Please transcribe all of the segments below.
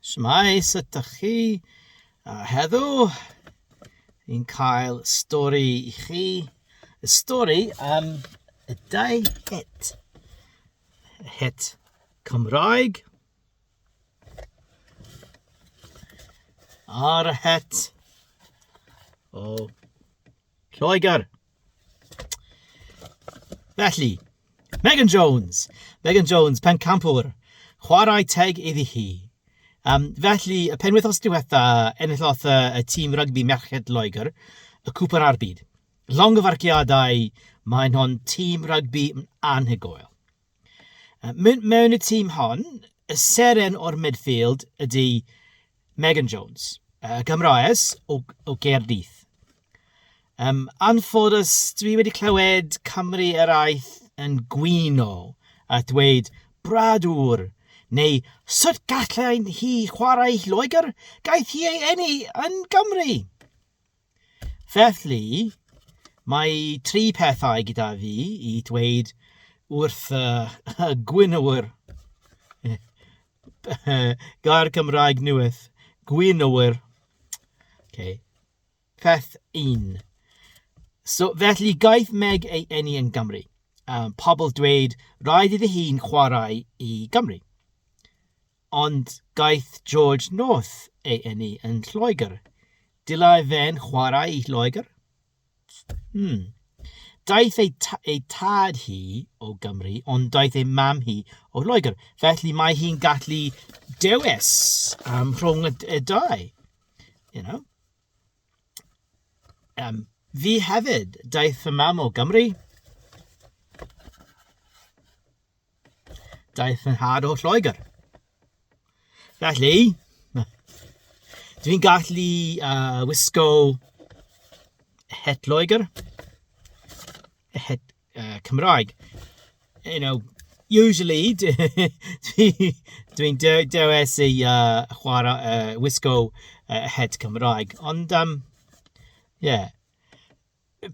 Shmai, sut ydych chi? A heddo, ni'n cael stori i chi. Y stori am y dau het. Y het Cymraeg a'r het o Lloegr. Felly, Megan Jones. Megan Jones, pencampwr. Chwarae teg iddi hi. Um, felly, y penwythos diwetha, enillodd uh, y tîm rygbi merched Loegr y cwpan ar byd. Long o farciadau, mae'n hon tîm rygbi anhygoel. Uh, mewn y tîm hon, y seren o'r midfield ydy Megan Jones, uh, Gymroes o, o Gaerdydd. Um, anffodus, dwi wedi clywed Cymru eraill yn gwino a dweud bradwr neu sut gallai hi chwarae Lloegr, gaeth hi ei enni yn Gymru. Felly, mae tri pethau gyda fi i dweud wrth y y gwynwr. Gair Cymraeg newydd. Gwynwr. Okay. Peth un. So, felly, gaeth Meg ei eni yn Gymru. Um, pobl dweud, rhaid iddi hi'n chwarae i Gymru. Ond gaeth George North ei eni yn Lloegr. Dylai fe'n chwarae i Lloegr? Hmm. Daeth ei, ei tad hi o Gymru, ond daeth ei mam hi o Lloegr. Felly mae hi'n gallu dewis um, rhwng y, y dau. You know? Um, fi hefyd, daeth fy mam o Gymru, Daeth yn hard o Lloegr. Felly, dwi'n gallu uh, wisgo het Lloegr, het uh, Cymraeg. You know, usually, dwi'n dwi, dwi dewes i uh, chwarae, uh, wisgo uh, het Cymraeg. Ond, um, yeah,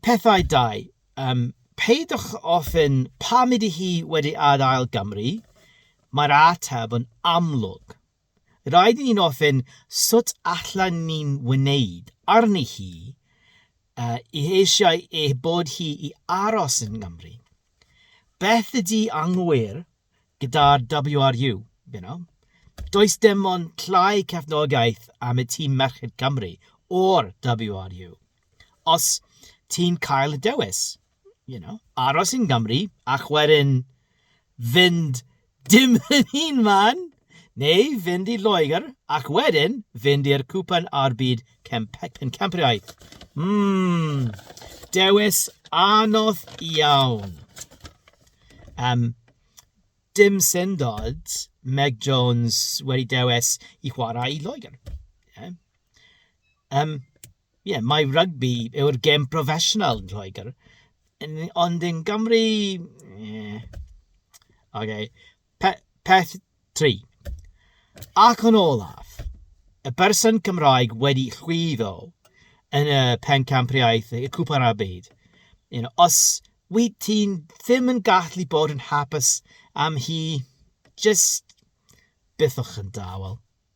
Pethau dau, um, peidiwch ofyn pam ydy hi wedi adael Gymru, mae'r ateb yn amlwg. Rhaid i ni'n ofyn sut allan ni'n wneud arni hi uh, i eisiau ei bod hi i aros yn Gymru. Beth ydy anghywir gyda'r WRU, you know? Does dim ond llai cefnogaeth am y tîm Merched Cymru o'r WRU. os ti'n cael y dewis, you know, aros yn Gymru ac wedyn fynd dim yn un man, neu fynd i Loegr ac wedyn fynd i'r cwpan a'r byd pencampwriaeth. Mmm, dewis anodd iawn. Um, dim syndod Meg Jones wedi dewis i chwarae i Loegr. Yeah. Um, ie, mae rygbi yw'r gêm proffesiynol yn Lloegr, ond yn Gymru, ie. Ok, pe- peth tri. Ac yn olaf, y berson Cymraeg wedi llwyddo yn y pencampwriaeth, y Cwpan a'r Byd. You know, os wyt ti'n ddim yn gallu bod yn hapus am hi, jyst bythwch yn dawel.